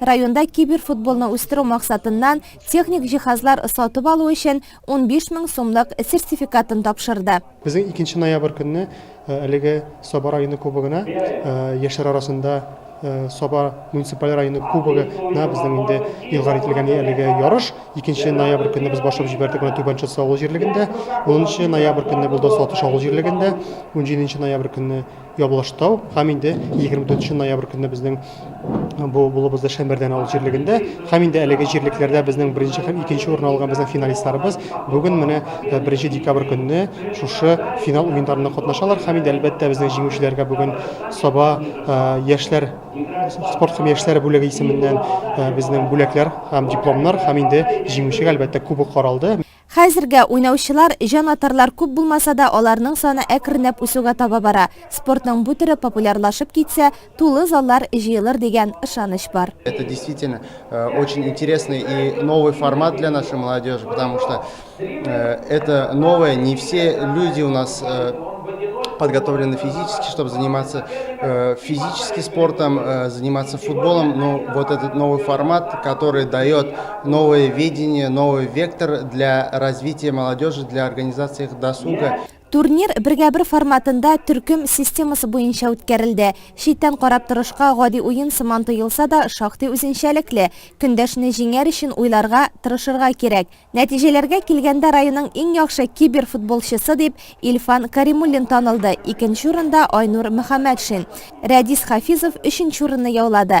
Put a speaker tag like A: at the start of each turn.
A: Районда киберфутболны үстерү максатыннан техник җиһазлар сатып алу өчен 15 мең сумлык сертификатын тапшырды. Безнең икенче ноябрь
B: көнне әлеге Саба районы кубогына, яшьләр арасында Саба муниципаль районы кубогы на безнең инде илгар ителгән әлеге ярыш. Икенче ноябрь көнне без башлап җибәрдек моны Түбән Чатса авыл җирлегендә. Унынчы ноябрь көнне булды Сатыш авыл җирлегендә. Унҗиденче ноябрь көнне Ябылаштау һәм инде 24 ноябрь көнне безнең бу булыбызда Шәмәрдән авыл җирлегендә һәм инде әлеге җирлекләрдә безнең беренче һәм икенче урын алган безнең финалистларыбыз бүген менә 1 декабрь көнне шушы финал уеннарында катнашалар һәм инде әлбәттә безнең җиңүчеләргә бүген Саба яшьләр спорт һәм яшьләр бүлеге исеменнән безнең бүләкләр һәм дипломнар һәм инде җиңүчегә әлбәттә кубок каралды. Хәзергә
A: уйнаучылар, җан-атарлар күп булмаса да, аларның саны әкренләп үсүгә таба бара. Спортның бу төре популярлашып китсә, тулы заллар җыелыр дигән ышаныч бар. Это действительно
C: очень интересный и новый формат для нашей молодежи, потому что это новое, не все люди у нас подготовлены физически, чтобы заниматься э, физически спортом, э, заниматься футболом. Но вот этот новый формат, который дает Новое видение, новый вектор для развития молодежи, для организации их досуга. Турнир бергә-бер
A: форматында төркем системасы буенча үткәрелде. Читтән карап торышка гади уен сыман тоелса да, шактый үзенчәлекле. Көндәшне җиңәр өчен уйларга, тырышырга кирәк. Нәтиҗәләргә килгәндә районның иң яхшы киберфутболчысы дип Илфан Каримуллин танылды, икенче урында Айнур Мөхәммәтшин. Рәдис Хафизов өченче урынны яулады.